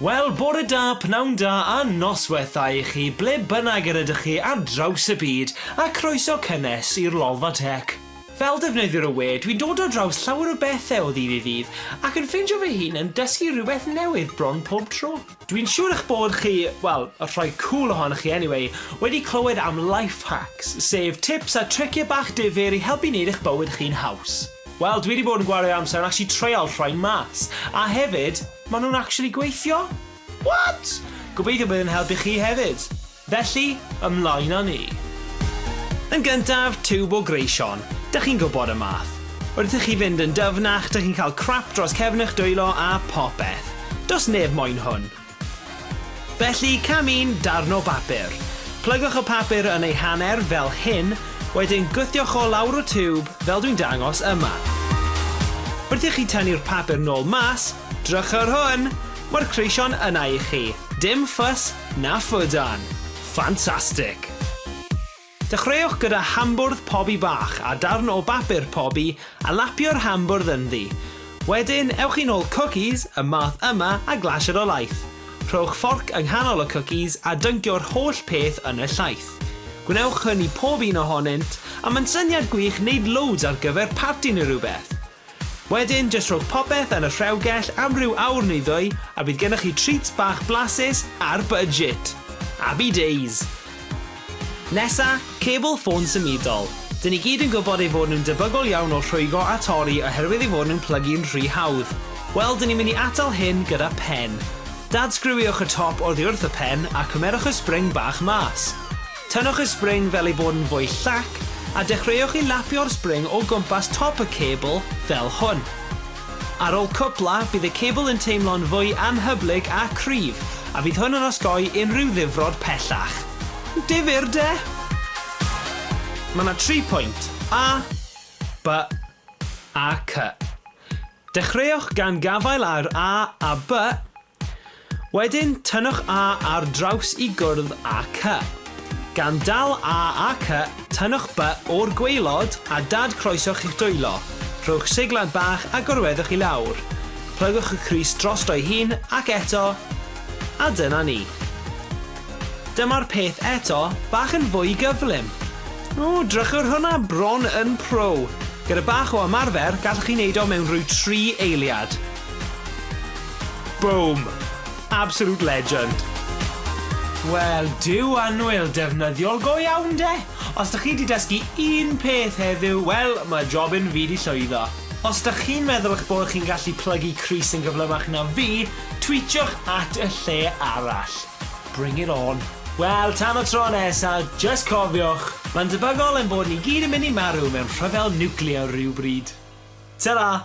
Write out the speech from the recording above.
Wel, bore da, pnawn da a noswaith dda i chi ble bynnag yr ydych chi ar draws y byd a croeso cynnes i'r Lolfa Tech. Fel defnyddiwr o we, dwi'n dod ar draws llawer o bethe o ddydd i ddydd, ac yn ffindio fy hun yn dysgu rhywbeth newydd bron pob tro. Dwi'n siŵr eich bod chi, wel, y rhai cŵl ohonoch chi anyway, wedi clywed am Life Hacks, sef tips a tricie bach difyr i helpu neud eich bywyd chi'n haws. Wel, dwi 'di bod yn gwario amser yn actually treial rhain mas, a hefyd, ma' nhw'n actually gweithio! What? Gobeithio bydd yn helpu chi hefyd! Felly, ymlaen â ni. Yn gyntaf, tiwb o greu Siôn. Dych chi'n gwybod y math. Wrth i chi fynd yn dyfnach, dych chi'n cael crap dros cefn eich dwylo a phopeth. Does neb moyn hwn. Felly, cam un, darn o bapur. Plygwch y papur yn ei hanner, fel hyn, wedyn gwthioch o lawr y tiwb, fel dwi'n dangos yma. Wrth i chi tynnu'r papur nôl mas, drychwch ar hwn! Mae'r creu Siôn yna i chi. Dim fuss, Na ffydan! Ffantastig! Dechreuwch gyda hambwrdd pobi bach a darn o bapur pobi a lapio'r hambwrdd ynddi. Wedyn, ewch i'n ôl cwcis, y math yma, a glasur o laeth. Rhowch fforc yng nghanol y cwcis a dyncio'r holl peth yn y llaeth. Gwnewch hyn i pob un ohonynt, a mae'n syniad gwych wneud loads ar gyfer parti neu rhywbeth! Wedyn jyst rhowch popeth yn y rhewgell am ryw awr neu ddwy a bydd gennych chi treats bach blasus ar budget! Abby days! Nesa, cebl ffôn symudol. Dyn ni gyd yn gwybod ei fod nhw'n debygol iawn o rhwygo a torri oherwydd ei fod nhw'n plygu'n rhy hawdd. Wel, dyn ni'n mynd i atal hyn gyda pen. Dad-sgriwiwch y top oddi wrth y pen a cymerwch y spring bach mas. Tynnwch y spring fel ei bod yn fwy llac a dechreuwch i lapio'r spring o gwmpas top y cebl fel hwn. Ar ôl cwpla, bydd y cebl yn teimlo'n fwy anhyblyg a cryf a fydd hwn yn osgoi unrhyw ddifrod pellach. Difyr, de? Mae yna tri pwynt, A, B a C. Dechreuwch gan gafael ar A a B Wedyn tynnwch A ar draws i gwrdd â Cy. Gan dal A a Cy, tynnwch By o'r gwaelod a dad croesoch i'ch dwylo. Rhowch seglad bach a gorweddwch i lawr. Plygwch y crys drosto'i hun ac eto, a dyna ni. Dyma'r peth eto, bach yn fwy gyflym. O, drychwch hwnna bron yn pro. Gyda bach o ymarfer, gallwch chi wneud o mewn rhyw tri eiliad. Boom! Absolute legend. Wel, duw annwyl, defnyddiol go iawn 'de! Os dych chi 'di dysgu un peth heddiw, wel, mae jobyn fi 'di llwyddo. Os dych chi'n meddwl eich bod chi'n gallu plygu crys yn gyflymach na fi, twîtiwch at y lle arall. Bring it on. Wel, tan y tro nesa, jyst cofiwch, mae'n debygol ein bod ni gyd yn mynd i marw mewn rhyfel niwclear rhyw bryd. Tara!